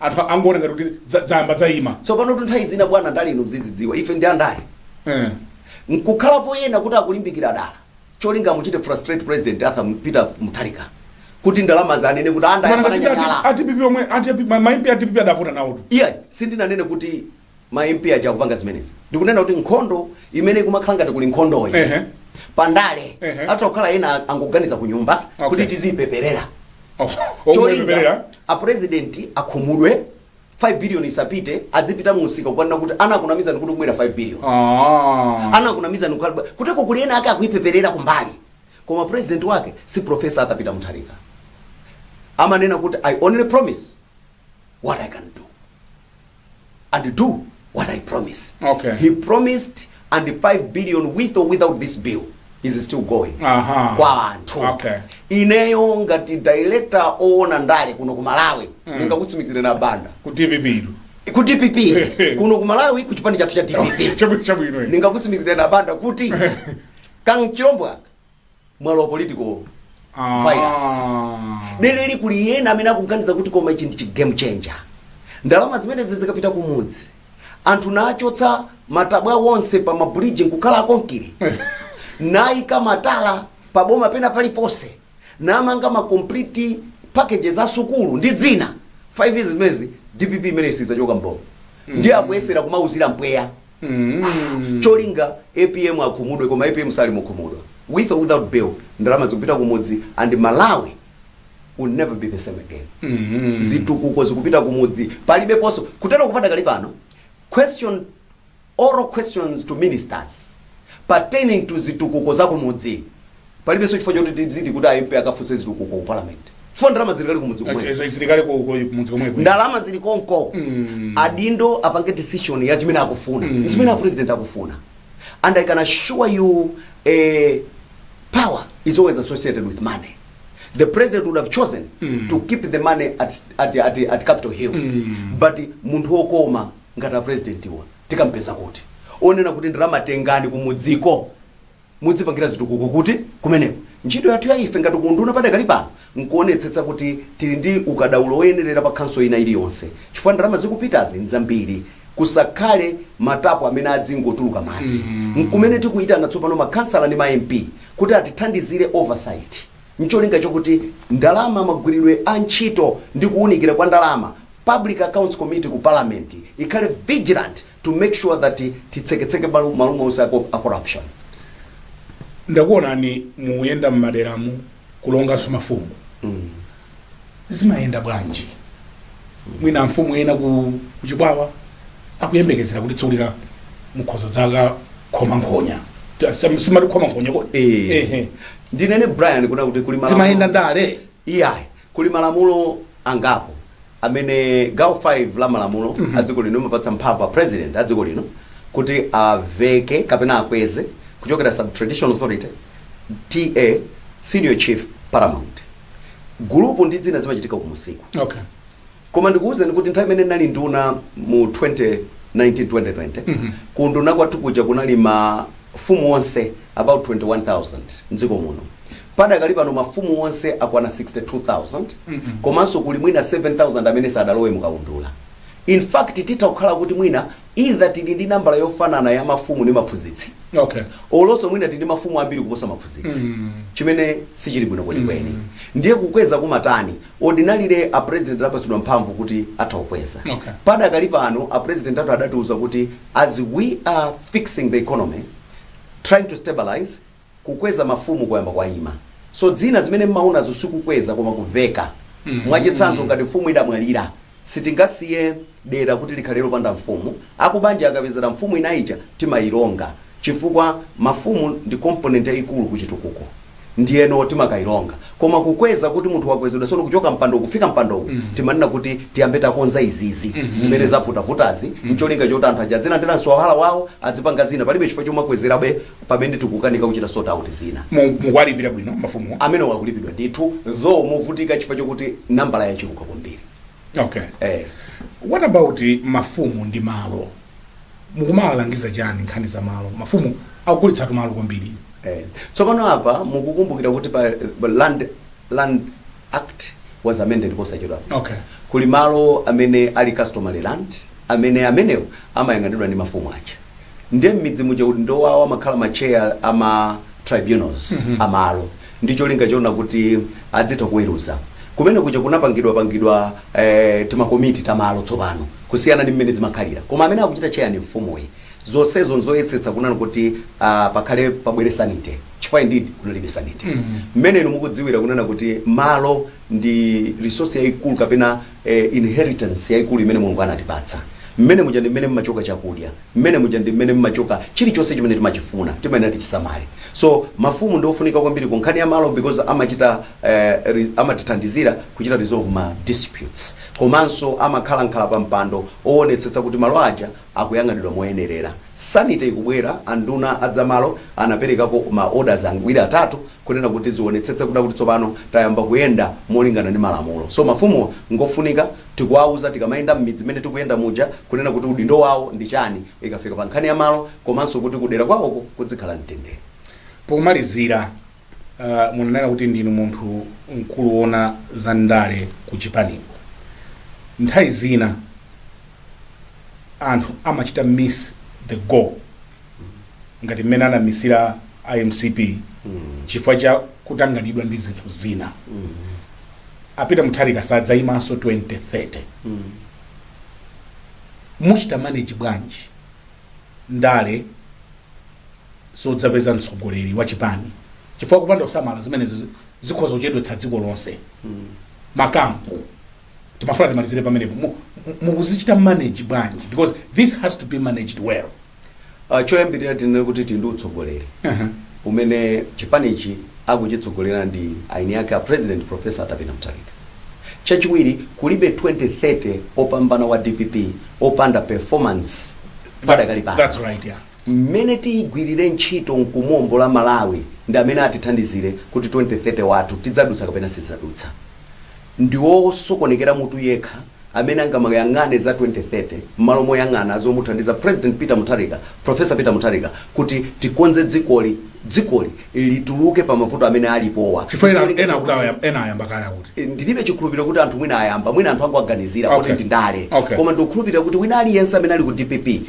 [SPEAKER 2] anthu angoona ngati kuti dza- dzayamba dzaima tsopanotu nthawi
[SPEAKER 1] zina bwana ndale inu mzizidziwa ife ndi andale Eh. nkukhalapo ena kuti akulimbikira dala cholinga amuchite frustrate president arthur peter mutharika kuti ndalama zanene kuti Mana ngati sikuti ati- andayambanyakala a DPP
[SPEAKER 2] omwe a DP- ma- ma MP a DPP adavota nawotu iye sindinanene
[SPEAKER 1] kuti ma MP aja akupanga zimenezi ndikunena kuti nkhondo imene ikumakhala ngati kuli nkhondoyi Ehe. pandale Ehe. atha kukhala ena angoganiza ku nyumba Okay. kuti tiziipeperera Oh, cholinga omuleberera apresidenti akhumudwe 5 billion isapite adzipita mu msika kukanena kuti anakunamizani kuti kubwera 5 billion Ah. anakunamizani kukhala kuteko kuli ena ake akuipeperera kumbali koma president wake si profesa Arthur Peter Mutharika amanena kuti i only promise what i can do and do what I promise. Okay. He promised and 5 billion with or without this bill is still going. Aha. Kwa anthu. Okay. Ineyo ngati director oona ndale kuno ku Malawi mm. ndingakutsimikizireni a Banda. Ku
[SPEAKER 2] DPP ilu. Ku
[SPEAKER 1] DPP kuno ku Malawi ku chipani chathu cha DPP. Chabwino chabwino.
[SPEAKER 2] Ndingakutsimikizireni a Banda
[SPEAKER 1] kuti kachilombo mwalo wa political virus dereli kuli ena amene akuganiza kuti koma ichi ndi chi game changer ndalama zimenezi zikapita kumudzi anthu nachotsa matabwa onse pa ma bridge nkukhala akonkire nayika matala pa boma pena paliponse namanga ma complete packages a sukulu ndi zina 5 years zimezi dpp imene sizachoka mboma ndiye akuyesera kumauzira mpweya mm. cholinga apm akhumudwe koma apm sali mukhumudwa with or without bill ndalama zikupita kumudzi and malawi will never be the same again mm. zitukuko zikupita kumudzi palibeponso kuteroko padakali pano question oral questions to ministers pertaining to zitukuko za kumudzi Palibenso chifukwa choti tidziti kuti a MP akafunse zitukuko ku Parliament chifukwa ndalama zili kale kumudzi komweko. Izo zili kale ku
[SPEAKER 2] mudzi komweko. Ndalama zili
[SPEAKER 1] konko. Adindo apange decision ya chimene akufuna. Nchimene a President akufuna. And I can assure you eh, power is always associated with money. The president would have chosen to keep the money at, at, at, at Capitol Hill. But munthu wokoma ngati a presidentiwa tikampeza kuti onena kuti ndalama tengani kumudziko mudzipangira zitukuko kuti? Kumeneko. Ntchito yathu ya ife ngati ku unduna padakali pano nkuonetsetsa kuti tili ndi ukadaulo oyenerera pa council ina iliyonse chifukwa ndalama zikupitazi nzambiri. Kusakhale matapo amene adzingotuluka madzi. Nkumene tikuitana tsopano ma khansala ndi ma MP kuti atithandizire oversight ncholinga chokuti ndalama, magwiridwe a ntchito ndi kuunikira kwa ndalama Public Accounts Committee ku Parliament ikhale vigilant to make sure that titseketseke malu- ma loophole onse a co- a corruption
[SPEAKER 2] ndakuonani muyenda mmaderamu kulonganso mafumu zimayenda bwanji mwina mfumu ena ku ku Chikwawa akuyembekezera kuti tsiku lina mukhozo dzakakhoma nkhonya Ta- sam- simati khoma nkhonya kodi Eh. Ehe. ndinene
[SPEAKER 1] Brian kunena kuti kuli malamulo- zimayenda ndale
[SPEAKER 2] iyayi
[SPEAKER 1] Kuli malamulo angapo amene gawo 5 la malamulo a dziko lino limapatsa mphamvu a President a dziko lino kuti aveke kapena akweze kuchokera sub traditional authority, TA, senior chief, paramount. Gulupu ndi zina zimachitika ku msiku. Okay.
[SPEAKER 2] Koma
[SPEAKER 1] ndikuuzeni kuti nthawi imene ndinali nduna mu 2019 2020 ku unduna kwathu kuja kunali mafumu onse about 21000 mdziko muno padakali pano mafumu onse akwana 62000 komanso kuli mwina 7000 amene sadalowe mukaundula in fact titha kukhala kuti mwina either tili ndi nambala yofanana ya mafumu ndi maphunzitsi okay olonso
[SPEAKER 2] mwina tili ndi
[SPEAKER 1] mafumu ambiri kuposa maphunzitsi chimene sichili bwino kwenikweni ndiye kukweza kumatani Ordinarily a president anapatsidwa mphamvu kuti atha kukweza. Okay.
[SPEAKER 2] Padakali pano a
[SPEAKER 1] president athu adatiuza kuti as we are fixing the economy, trying to stabilize, kukweza mafumu kwayamba kwaima. So zina zimene mumaonazo sikukweza koma kuveka. Mwachitsanzo ngati mfumu idamwalira, Sitingasiye dera kuti likhale lopanda mfumu, akubanja akapezera mfumu ina ija timailonga chifukwa mafumu ndi component yaikulu ku chitukuko ndiyeno timakailonga koma kukweza kuti munthu wakwezedwa tsono kuchoka mpando kufika mpando uwu timanena kuti tiyambe takonza izizi zimene zavutavutazi ncholinga choti anthu aja adzilandira mswahala wawo adzipanga zina palibe chifukwa chomakwezerabe pamene tikukanika kuchita sort out zina Mu- mukuwalipira bwino
[SPEAKER 2] mafumuwa mmene akulipidwa ndithu
[SPEAKER 1] though movutika chifukwa chokuti nambala yachuluka kwambiri okay eh
[SPEAKER 2] what about mafumu ndi malo mukumawalangiza chani nkhani za malo mafumu akugulitsa tumalo kwambiri Eh, tsopano
[SPEAKER 1] apa mukukumbukira kuti pa pa land, land act was amended posachedwa okay kuli
[SPEAKER 2] malo
[SPEAKER 1] amene ali customary land amene amenewo amayang'anidwa ndi mafumu aja ndiye mmidzi muja udindo wawo amakhala ma chair a ma tribunals a malo ndi cholinga choona kuti adzitha kuweruza kumene kuja kunapangidwa pangidwa eh, timakomiti tamalo tsopano kusiyana ndi mmene zimakhalira koma amene akuchita chair ndi mfumuyi zonsezo nzoyesetsa kunena kuti ah, pakhale pabwere sanity chifukwa indeed kunalibe sanity mmene inu mukudziwira kunena kuti malo ndi resource yayikulu kapena e, inheritance yaikulu imene Mulungu anatipatsa. Mmene muja ndi mmene mmachoka chakudya, mmene muja ndi mmene mmachoka chilichonse chimene timachifuna, timayenera tichisamale. So mafumu ndi ofunika kwambiri ku nkhani ya malo because amachita eh, re- amatithandizira kuchita resolve ma disputes komanso amakhalakhala pa mpando oonetsetsa kuti malo aja akuyang'anidwa moyenerera. Sanity ikubwera, anduna a zamalo anaperekako ma orders awiri atatu kunena kuti tizionetsetsa kunena kuti tsopano tayamba kuyenda molingana ndi malamulo. So mafumuwa ngofunika tikuwauza tikamayenda mmidzi mmene tikuyenda muja kunena kuti udindo wawo ndi chani ikafika pa nkhani ya malo komanso kuti kudera kwawoko kudzikhala mtendere.
[SPEAKER 2] Pomalizira, munanena kuti ndinu munthu mkulu woona za ndale ku chipaniko. Nthawi zina anthu amachita miss the goal. ngati mmene anamisira a mcp chifukwa cha kutanganidwa ndi zinthu zina a peter mutharika sadzayimanso 2030 muchita manage bwanji ndale zodzapeza mtsogoleri wa chipani chifukwa kupanda kusamala zimenezo zi- zikhoza kuchedwetsa dziko lonse makampu timafuna timalizire pamenepo Mu- mu- mukuzichita manage bwanji because this has to be managed well Ah,
[SPEAKER 1] choyambirira tinene kuti tili ndi utsogoleri umene chipanichi akuchitsogolera ndi eni ake a president professor Arthur Peter Mutharika chachiwiri kulibe 2030 opambana wa dpp opanda performance padakali pano that's right
[SPEAKER 2] yeah mmene tiyigwirire
[SPEAKER 1] ntchito nkumombola malawi ndi amene atithandizire kuti 2030 wathu tidzadutsa kapena sitidzadutsa Ndi wosokonekera mutu yekha amene angamayang'ane za 2030 mmalo moyang'ana zomuthandiza President Peter Mutharika, Prof. Peter Mutharika kuti tikonze dzikoli, dzikoli lituluke pa mavuto amene alipowa. Chifukwa ena, N'cholinga ena akuti chakuti aya-
[SPEAKER 2] ena ayamba kale akuti. Eh, ndilibe chikhulupiriro kuti
[SPEAKER 1] anthu mwina ayamba mwina anthu angowaganizira kuti Okay. ndi ndale Okay. koma ndikukhulupirira kuti wina aliyense amene ali ku dpp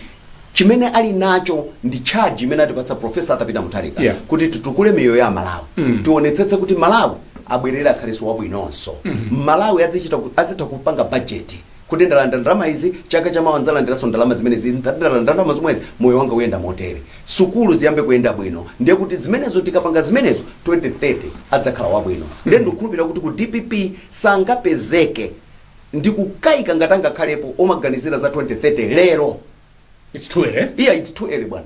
[SPEAKER 1] chimene ali nacho ndi charge imene atipatsa profesa arthur peter mutharika Yeah. kuti titukule miyoyo ya amalawi tionetsetse kuti malawi abwerere akhalenso wabwinonso amalawi azichita ku- azitha kupanga bajeti kuti ndalandira ndalama izi chaka chamawa ndidzalandiranso ndalama zimenezi ndalandira ndalama zomwezi moyo wanga uyenda motere sukulu ziyambe kuyenda bwino ndiye kuti zimenezo tikapanga zimenezo 2030 adzakhala wabwino ndiye ndikukhulupirira kuti ku dpp sangapezeke Ndikukaika ngati angakhalepo omaganizira za 2030 lero. It's
[SPEAKER 2] too early. Iya it's too early
[SPEAKER 1] bwana.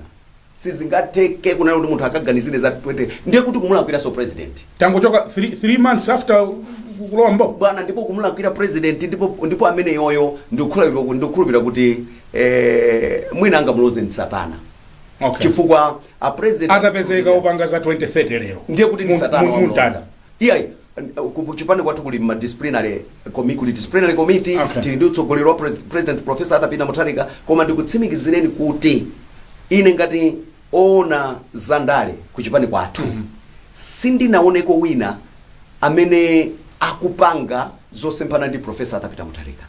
[SPEAKER 1] Sizingatheke kunena kuti munthu akaganizire za 20 ndiye kuti kumulakwiranso president. Tangochoka
[SPEAKER 2] 3 3 months after ku- kulowa m'boma. bwana ndipo
[SPEAKER 1] kumulakwira president ndipo ndipo amene yoyo ndikukhulupirira kuti ndikukhulupirira kuti eh, mwina angamuloze msatana Okay. chifukwa a president Atapezeka opanga za 2030
[SPEAKER 2] lero. ndiye kuti ndi Mu- satana mu-
[SPEAKER 1] wamlonza. mutani. Iyayi, ku ku chipani kwathu kuli ma disciplinary committee, kuli disciplinary committee, Okay. tili ndi utsogoleri wa pres- president professor Arthur Peter Mutharika, koma ndikutsimikizireni kuti ine ngati oona za ndale ku chipani kwathu sindinaonepo wina amene akupanga zosemphana ndi professor Arthur Peter Mutharika.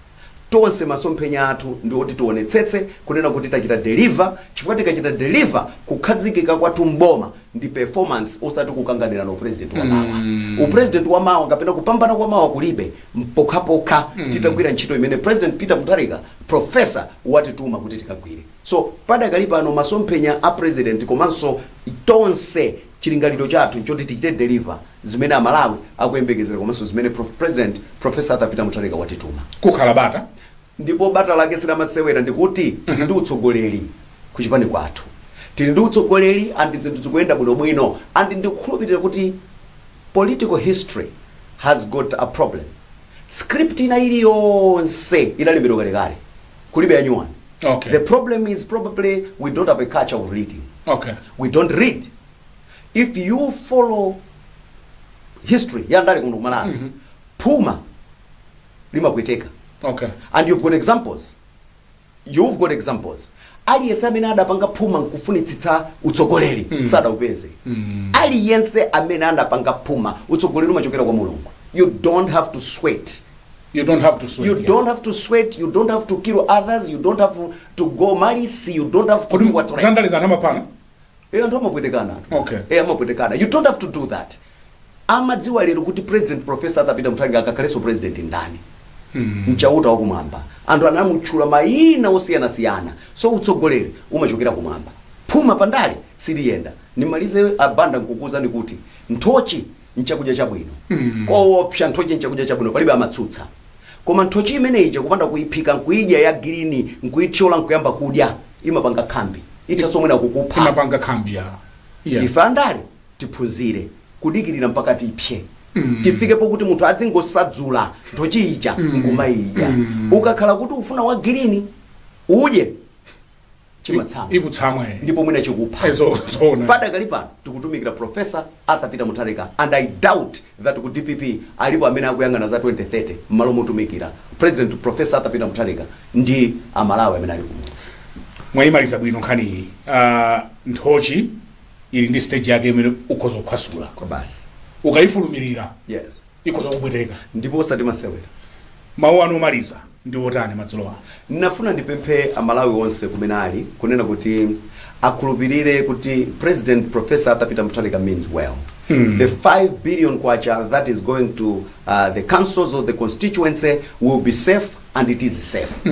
[SPEAKER 1] Tonse masomphenya athu ndi oti tionetsetse kunena kuti tachita deliver chifukwa tikachita deliver kukhazikika kwathu m'boma ndi performance osati kukanganirana upresident wa mawa. Upresident wa mawa kapena kupambana kwa mawa kulibe mpokhapokha titagwira ntchito imene President Peter Mutharika Prof. watituma kuti tikagwire. So padakali pano masomphenya a President komanso tonse Chilingaliro chathu nchoti tichite deliver zimene a Malawi akuyembekezera komanso zimene prof. President Prof. Arthur Peter Mutharika watituma. Kukhala bata
[SPEAKER 2] ndipo bata
[SPEAKER 1] lake si lamasewera ndikuti tili ndi utsogoleri ku chipani kwathu. Tili ndi utsogoleri and zinthu zikuyenda bwinobwino and ndikukhulupirira kuti political history has got a problem. Script ina iliyonse inalembedwa kalekale. Kulibe yanyuwani. Okay. The
[SPEAKER 2] problem
[SPEAKER 1] is probably we don't have a culture of reading. Okay. We
[SPEAKER 2] don't
[SPEAKER 1] read. If you follow history ya ndale kuno ku Malawi mm -hmm. phuma limakweteka
[SPEAKER 2] okay. and you've got
[SPEAKER 1] examples you've got examples aliyense amene adapanga phuma nkufunitsitsa utsogoleri mm. sadaupeze mm. aliyense amene adapanga phuma utsogoleri umachokera kwa mulungu you don't have to sweat You don't have to sweat. You yeah. don't have to sweat, you don't have to kill others, you don't have to go malice, you don't have to do what you want. Kutandaliza anthu amapana. Eh anthu amapwetekana.
[SPEAKER 2] Okay. Eh amapwetekana. You don't have
[SPEAKER 1] to do that. Amadziwa lero kuti President Professor Arthur Peter Mutharika akakhalenso president ndani. Hmm. Mchauta wa kumwamba. Anthu anamutchula mayina osiyanasiyana. So utsogoleri umachokera kumwamba. Phuma pandale siliyenda. Nimalize a Banda nkukuuzani kuti nthochi nchakudya chabwino mm. koopsa nthochi nchakudya chabwino palibe amatsutsa koma nthochi imeneyi kupanda kuyiphika nkuyidya ya girini nkuyithyola nkuyamba kudya imapanga khambi ithanso mwina kukupha imapanga khambi ya
[SPEAKER 2] yeah. ife
[SPEAKER 1] andale tiphunzire kudikirira mpaka tipse Mm. tifike pokuti munthu adzingosadzula nthochi ija mm. nkumayidya mm. ukakhala kuti ufuna wa girini udye chimatsamwa chikutsamwa
[SPEAKER 2] eh. ndipo mwina chikupha
[SPEAKER 1] Eh, zo- zoona.
[SPEAKER 2] padakali
[SPEAKER 1] pano tikutumikira profesa arthur peter mutharika and i doubt that ku dpp alipo amene akuyang'ana za 2030 m'malo motumikira president profesa arthur peter mutharika ndi amalawi amene ali kumudzi mwayimaliza
[SPEAKER 2] bwino nkhaniyi Ah, nthochi ili ndi stage yake imene ukhoza kukhwasula basi
[SPEAKER 1] ukayifulumirira
[SPEAKER 2] yes
[SPEAKER 1] ikhoza
[SPEAKER 2] kupweteka. ndipo osati
[SPEAKER 1] masewera. Mawu
[SPEAKER 2] anu omaliza ndi otani madzulo ano? Ndinafuna
[SPEAKER 1] ndipemphe a Malawi onse kumene ali kunena kuti akhulupilire kuti President Prof. Arthur Peter Mutharika means well. The 5 billion kwacha that is going to uh, the councils of the constituency will be safe and it is safe.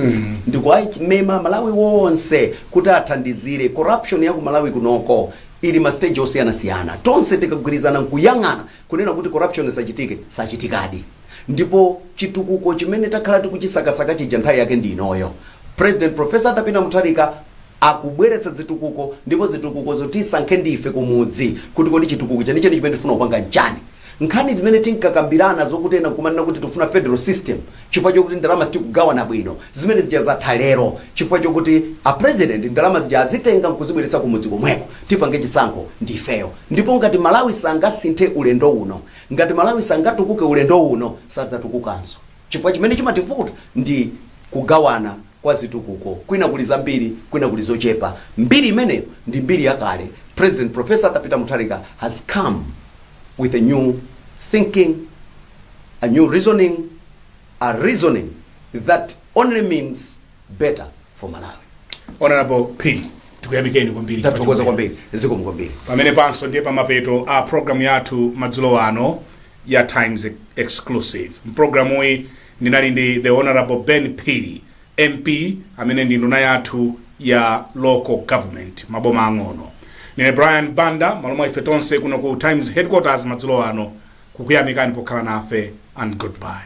[SPEAKER 1] Ndikuwamema a Malawi onse kuti athandizire corruption ya ku Malawi kunoko ili ma stage osiyanasiyana. Tonse tikagwirizana nkuyang'ana Kunena kuti corruption isachitike sachitikadi ndipo chitukuko chimene takhala tikuchisakasaka chija nthawi yake ndi inoyo. President Prof. Arthur Peter Mutharika akubweretsa zitukuko ndipo zitukukozo tisankhe ndi ife kumudzi kuti kodi chitukuko chenicheni chimene tifuna kupanga nchani. Nkhani zimene tinkakambirana zokuti ena nkumanena kuti tifuna federal system, chifukwa chokuti ndalama sitikugawana bwino, zimene zija zatha lero chifukwa chokuti a president ndalama zija azitenga nkuzibweretsa kumudzi komweko tipange chisankho ndi ifeyo ndipo ngati Malawi sangasinthe ulendo uno, ngati Malawi sangatukuke ulendo uno sadzatukukanso chifukwa chimene chimativuta ndi kugawana kwa zitukuko kwina kuli zambiri kwina kuli zochepa, mbiri imeneyo ndi mbiri yakale, President Prof. Arthur Peter Mutharika has come. with a new thinking, a new reasoning, a reasoning that only means better for Malawi. honorable
[SPEAKER 2] phiri tikuyamikeni kwambiri Tathokoza
[SPEAKER 1] kwambiri, zikomo kwambiri. pamene panso
[SPEAKER 2] ndiye pamapeto a programu yathu madzulo ano ya times exclusive mprogramuyi ndinali ndi the honorable ben phiri MP amene ndi nduna yathu ya local government maboma ang'ono ndine Brian Banda malo mwa ife tonse kuno ku Times headquarters madzulo ano kukuyamikani pokhala nafe and goodbye